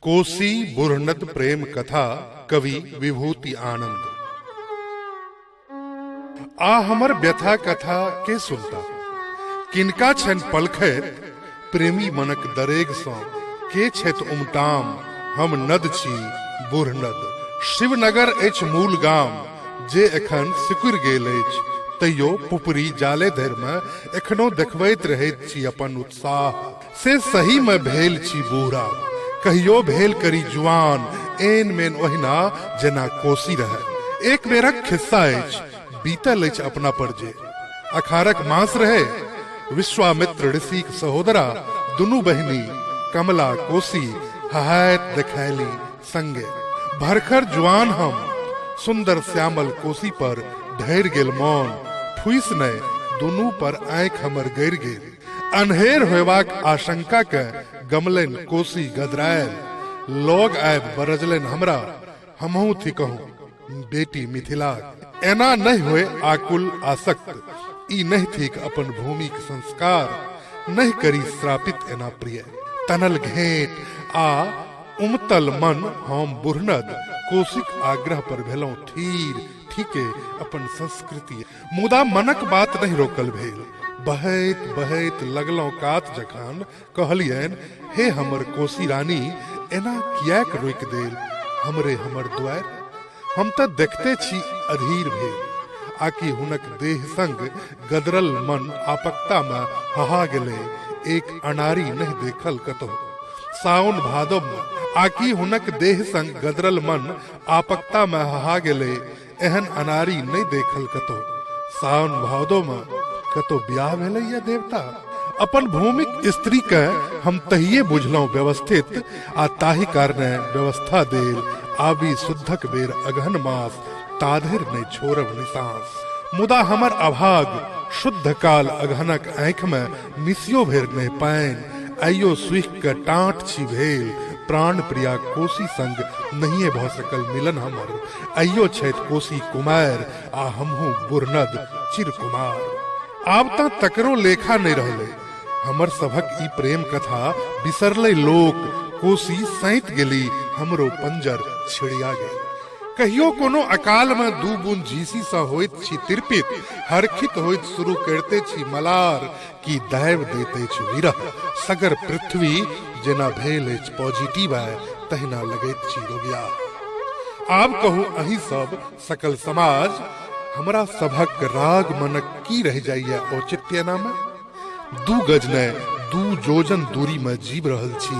कोसी बुरनत प्रेम कथा कवि विभूति आनंद आ हमर व्यथा कथा के सुनता किनका छन पलखैत प्रेमी मनक दरेग सँ के छथि उमटाम हम नद छी बूढ़ नद शिवनगर अछि मूल गाम जे एखन सिकुड़ि गेल अछि तैयो पुपरी जाले धरि मे एखनो देखबैत रहैत छी अपन उत्साह से सही मे भेल छी बूढ़ा कहियो भेल करी जुआन एन मेन ओहिना जेना कोसी रहै एक बेरक खिस्सा अछि बीतल अछि अपना पर जे अखारक मास रहे विश्वामित्र ऋषिक सहोदरा दुनू बहिनी कमला कोसी हहायत देखैली संगे भरखर जुआन हम सुंदर श्यामल कोसी पर ढैर गेल मौन फुइस ने दुनू पर आंख हमर गैर गेल अन्हेर होयबाक आशंका के गमलन कोसी गदरायल लोग आब बरजलन हमरा हमहू थी कहूँ बेटी मिथिला एना नहीं होए आकुल आसक्त ई नहीं थीक अपन भूमि के संस्कार नहीं करी श्रापित एना प्रिय तनल घेट आ उमतल मन हम बुरनद कोशिक आग्रह पर भेलौं थीर ठीके अपन संस्कृति मुदा मनक बात नहीं रोकल भेल बहैत बहैत लगलौं कात जखन कहलियन हे हमर कोसी रानी एना किएक रोक देल हमरे हमर द्वार हम तऽ देखते छी अधीर भेल आकि हुनक देह संग गदरल मन आपकता में हहा गेले एक अनारी नहीं देखल कतो सावन भादव में आकि हुनक देह संग गदरल मन आपकता में हहा गेले एहन अनारी नहि देखल कतो सावन भादो में कतो ब्याह भेलै या देवता अपन भूमिक स्त्री के हम तहिए बुझलहुँ व्यवस्थित आ ताहि कारणे व्यवस्था देल आबी शुद्धक बेर अगहन मास ताधर नहि छोड़ब निसांस मुदा हमर अभाग शुद्ध काल अगहनक आँखि में मिसियो भेर नहि पानि आइयो सुख के टाँट छी भेल प्राण प्रिया कोसी संग नहिए भऽ सकल मिलन हमर आइयो छथि कोसी कुमार आ हमहूँ बुरनद चिर कुमार आब तऽ तकरो लेखा नहि रहलै हमर सभक ई प्रेम कथा बिसरलै लोक कोसी सैत गेली हमरो पंजर छिड़िया गेल कहियो कोनो अकाल में दू बूंद झीसी सा होइत छी तिरपित हरखित होइत शुरू करते छी मलार की दैव देते छी विरह सगर पृथ्वी जेना भेल अछि पॉजिटिव है तहिना लगैत छी रोगिया आब कहू अही सब सकल समाज हमरा सभक राग मनक की रह जाइए औचित्य नामे दू गज ने दू जोजन दूरी में जीव रहल छी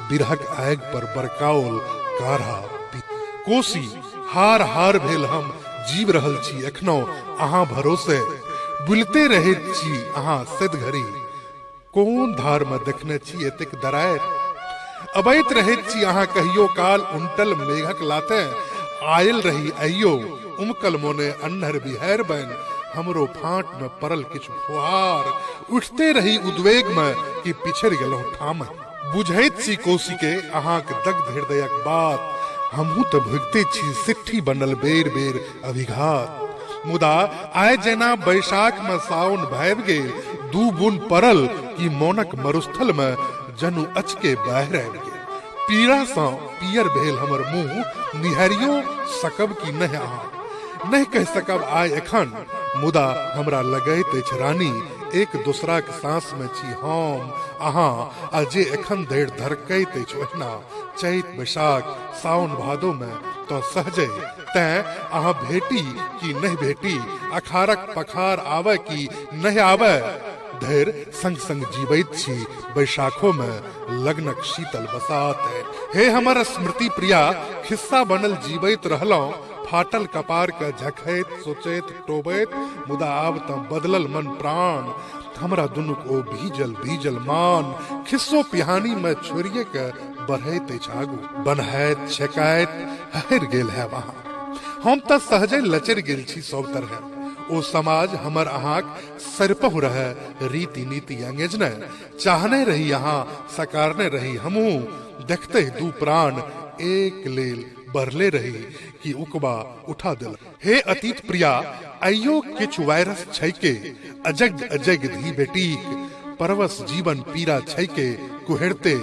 बिरहक आग पर बरकाओल काढ़ा पी कोसी हार हार भेल हम जीव रहल छी एखनो अहाँ भरोसे बुलते रहैत छी अहाँ सद घड़ी कोन धार में देखने छी एतेक दरार अबैत रहैत छी अहाँ कहियो काल उनटल मेघक लाते आयल रही अयो उमकल मोने अन्हर बिहार बन हमरो फांट में परल किछु फुहार उठते रही उद्वेग में कि पिछड़ गेलहुं ठाम बुझैत सी कोसी के अहाँ के दग्ध हृदयक बात हमहूँ तऽ भुगते छी सिट्ठी बनल बेर बेर अभिघात मुदा आय जेना बैशाख में साउन भाबि गेल दू बुन परल कि मोनक मरुस्थल में जनु अचके बाहर आबि गेल पीड़ासँ पीयर भेल हमर मुंह निहारियो सकब कि नहि अहाँ नहि कहि सकब आइ एखन मुदा हमरा लगैत अछि रानी एक दोसराक सांस में छी हम अहाँ आ जे एखन धरि धड़कैत अछि ओहिना चैत बैशाख सावन भादो में तऽ सहजे तैं अहाँ भेटी कि नहि भेटी अखारक पखार आबय कि नहि आबय धरि संग संग जीवैत छी बैशाखो मे लग्नक शीतल बसात हे हमर स्मृति प्रिया खिस्सा बनल जीवैत रहलहुँ फाटल कपार के झखैत सोचैत टोबैत मुदा आब तऽ बदलल मन प्राण हमरा दुनूक ओ भीजल भीजल मान खिस्सो पिहानी मे छोड़िए के बढ़ैत अछि आगू बनहैत छेकाइत हरि गेल है वहाँ हम तऽ सहजे लचरि गेल छी सब तरहे ओ समाज हमर अहाँक सरपहु रह रीति नीति अंगेज ने चाहने रही यहाँ सकारने रही हमू देखते ही दू प्राण एक लेल बरले रही कि उकबा उठा दिल हे अतीत प्रिया अयो किछु वायरस छैके अजग अजग धी बेटीक परवस जीवन पीरा छैके कुहेरते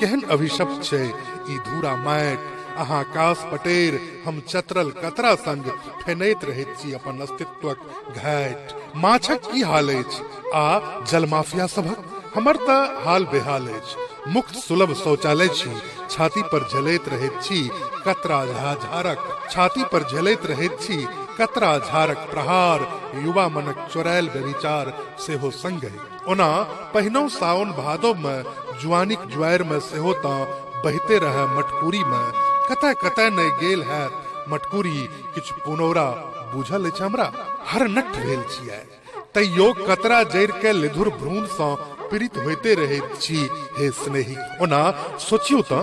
केहन अभिशप्त छै ई धूरा माट अहाँ कास पटेर हम चतरल कतरा संग फेनैत रहैत छी अपन अस्तित्वक घाट माछक की हाल अछि आ जलमाफिया सभक हमर तऽ हाल बेहाल अछि मुक्त सुलभ शौचालय छी छाती पर झेलैत रहैत छी कतरा झा झारक छाती पर झेलैत रहैत छी कतरा झारक प्रहार युवा मनक चोरायल व्यभिचार सेहो संगहि ओना पहिनौ साओन भादव मे जुआनिक ज्वार मे सेहो तऽ बहिते रहए मटकुरी मे कतय कतय नहि गेल हैत मटकुरी किछु पुनौरा बुझल अछि हमरा हर नट भेल छियै तैयो कतरा जरि के लेधुर भ्रूण सँ पीड़ित होइते रहैत छी हे स्नेही ओना सोचियौ तऽ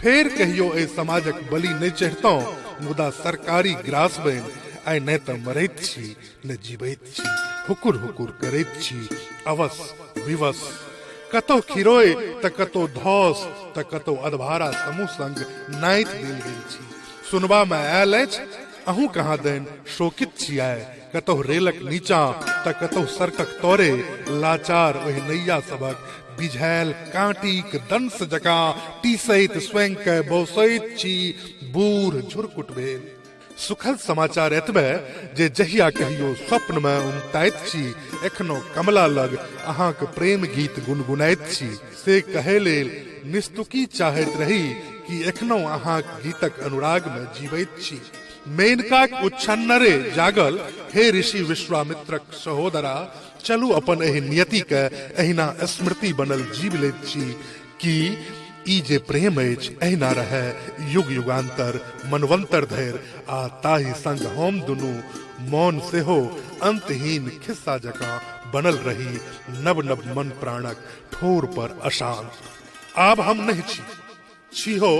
फेर कहियो एहि समाजक बलि नहि चढ़ितहुँ मुदा सरकारी ग्रास बनि आइ नहि तऽ मरैत छी नहि जीवैत छी हुकुर हुकुर करैत छी अवश्य विवश कतौ खिरोय तऽ कतौ धौस तऽ कतौ अधभारा समूह संग नाइत देल गेल छी सुनबा मे आयल अछि अहूँ कहाँ दैन शोकित छियै कतहु रेलक नीचा तऽ कतहु सड़कक तोरे लाचार ओहि नैया सभक बिझायल कांटीक दंश जकाँ टीसैत स्वयं के बौसैत छी बूढ़ झुरकुट भेल सुखद समाचार एतबे जे जहिया कहियो स्वप्न में उमताइत छी एखनो कमला लग अहाँक प्रेम गीत गुनगुनाइत छी से कहे लेल निस्तुकी चाहैत रही कि एखनो अहाँक गीतक अनुराग में जीवैत छी मेनकाक उच्छन्नरे जागल हे ऋषि विश्वामित्रक सहोदरा चलू अपन एहि नियति के एहिना स्मृति बनल जीव लैत छी कि ई जे प्रेम अछि एहिना रहै युग युगान्तर मनवन्तर धरि आ ताहि संग हम दुनू मौन सेहो अंतहीन खिस्सा जकाँ बनल रही नव नव मन प्राणक ठोर पर अशांत आब हम नहि छी छी हो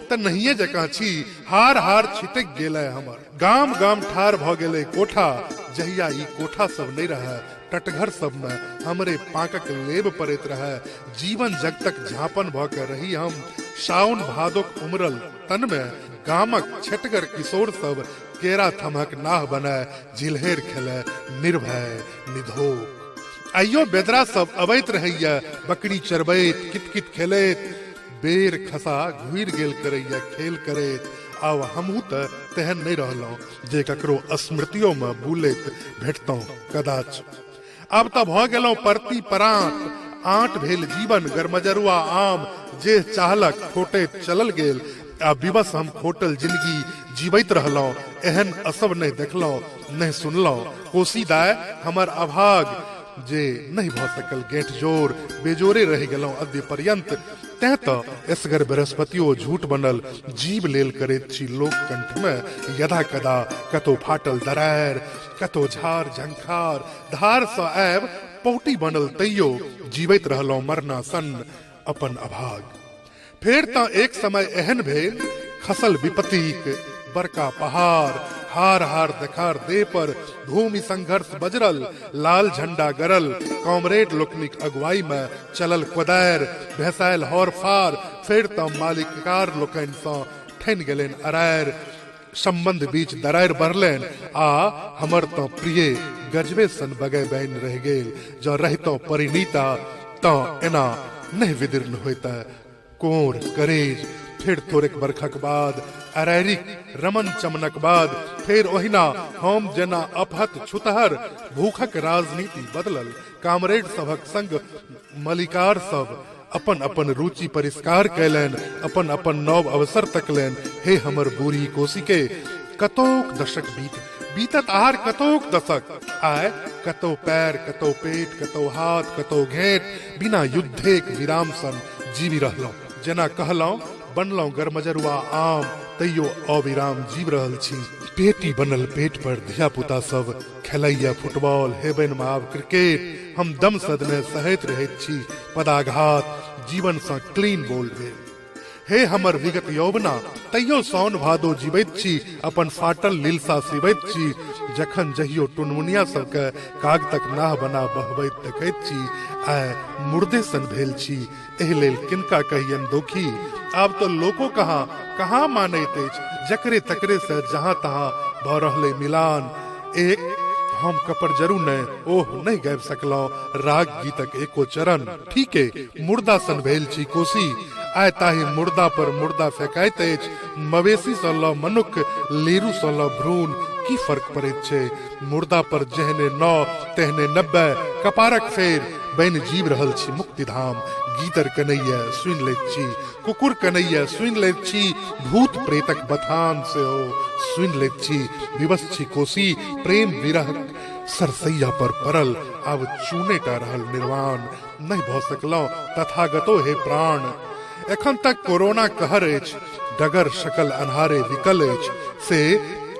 त नहिए जकाँ छी हार हार छिटक गेलै हमर गाम गाम ठार भऽ गेलै कोठा जहिया ई कोठा सब नहि रहए टटघर सबमे हमरे पाकक लेब पड़ैत रहए जीवन जगतक झापन भऽ के रही हम साउन भादोक उमरल तनमे गामक छटगर किशोर सब केरा थमहक नाह बनाए झिलहेर खेले निर्भय निधोक आइयो बेदरा सब अबैत रहैया बकरी चरबैत कितकित खेलैत बेर खसा घुर गेल करैया खेल करैत आब हमहूँ तऽ तेहन नहि रहलहुँ जे ककरो स्मृतियोमे बुलैत भेटतहुँ कदाच आब तऽ भऽ गेलहुँ परती परात आँट भेल जीवन गरमजरुआ आम जे चाहलक खोटैत चलल गेल आ विवश हम खोटल जिंदगी जीवैत रहलहुँ एहन असब नहि देखलहुँ नहि सुनलहुँ कोसी दाय हमर अभाग जे नहि भऽ सकल गेट जोर बेजोरे रहि गेलहुँ अद्य पर्यन्त तैं तऽ एसगर बृहस्पतियो झूठ बनल जीव लेल करैत छी लोक कंठमे यदा कदा कतौ फाटल दरार कतौ झार झंखार धारसँ आयब पौटी बनल तैयो जीवैत रहलहुँ मरना सन अपन अभाग फेर तँ एक समय एहन भेल खसल विपत्तिक बड़का पहाड़ हार हार देखार देह पर भूमि संघर्ष बजरल लाल झंडा गरल कॉमरेड लोकनिक अगुवाई मे चलल कोदार भेसायल हौर फार फेर तँ मालिककार लोकनिसँ ठनि गेलनि अरार संबंध बीच दरारि बढ़लनि आ हमर तँ प्रिय गजबे सन बगै बैन रहि गेल जँ रहितौं परिणीता तँ एना नहि विदीर्ण होइत कोर करेज फेर थोड़ेक बरखक बाद अरैरिक रमन चमनक बाद फेर ओहिना हम जेना अपहत छुतहर भूखक राजनीति बदलल कामरेड सभक संग मलिकार सब अपन अपन रुचि परिष्कार कयलनि अपन अपन नव अवसर तकलनि हे हमर बूढ़ी कोसी के कतोक दशक बीत बीतत आहार कतोक दशक आय कतो पैर कतो पेट कतो हाथ कतो घेट बिना युद्धेक विराम सन जीवी रहलहुँ जेना कहलहुँ बनलहुँ गरमजरुआ आम तैयो अविराम जीव रहल छी पेटी बनल पेट पर धिया पुता सब खेलैया फुटबॉल हेबनि माव क्रिकेट हम दम सदमे सहैत रहैत छी पदाघात जीवनसँ क्लीन बोल्ड भेल हे हमर विगत यौवना तैयो सौन भादो जीवैत छी अपन फाटल लीलसा सिबैत छी जखन जहियो टुनमुनिया सबके कागतक नाह बना बहबैत देखैत छी आइ मुर्दे सन भेल छी एहि लेल किनका कहियन दोखी आब तो लोको कहाँ कहाँ मानैत अछि जकरे तकरे से जहाँ तहाँ भऽ रहलै मिलान एक हम कपर जरू नहि ओह नहि गाबि सकलहुँ राग गीतक एको चरण ठीके मुर्दा सन भेल छी कोसी आय ताहि मुर्दा पर मुर्दा फेकाइत अछि मवेशी सँ लऽ मनुख लेरू सँ लऽ भ्रूण की फर्क पड़ैत छै मुर्दा पर जेहने नौ तेहने नब्बे कपारक फेर बनि जीव रहल छी मुक्तिधाम गीदर कनैया सुनि लैत छी कुकुर कनैया सुनि लैत छी भूत प्रेतक बथान सेहो सुनि लैत छी विवश छी कोसी प्रेम विरह सरसैया पर पड़ल आब चूने टा रहल निर्वाण नहि भऽ सकलहुँ तथागतो हे प्राण एखन तक कोरोना कहर अछि डगर शकल अन्हारे विकल अछि से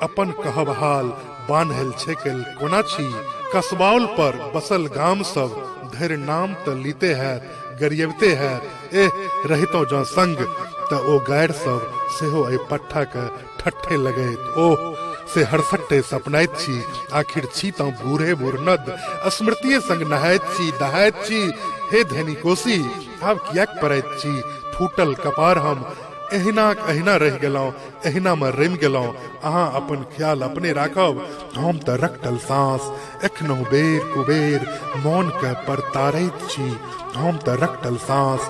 अपन कहब हाल बान्हल छेकल कोना छी कसबाउल पर बसल गाम सब धरि नाम तऽ लीते हैत गरियबते हैत एह रहितौ जँ संग तऽ ओ गारि सब सेहो एहि पट्ठाके ठट्ठे लगैत ओह से हरसट्टे सपनैत छी आखिर छी तँ बूढ़े बुरनद स्मृतिये संग नहाइत छी दहाइत छी हे धनी कोसी आब किएक पड़ैत छी फूटल कपार हम एहिनाक एहिना रहि गेलहुँ एहिनामे रमि गेलहुँ अहाँ अपन ख्याल अपने राखब हम तऽ रखटल साँस एखनहु बेर कुबेर मौनके परतारैत छी हम तऽ रखटल साँस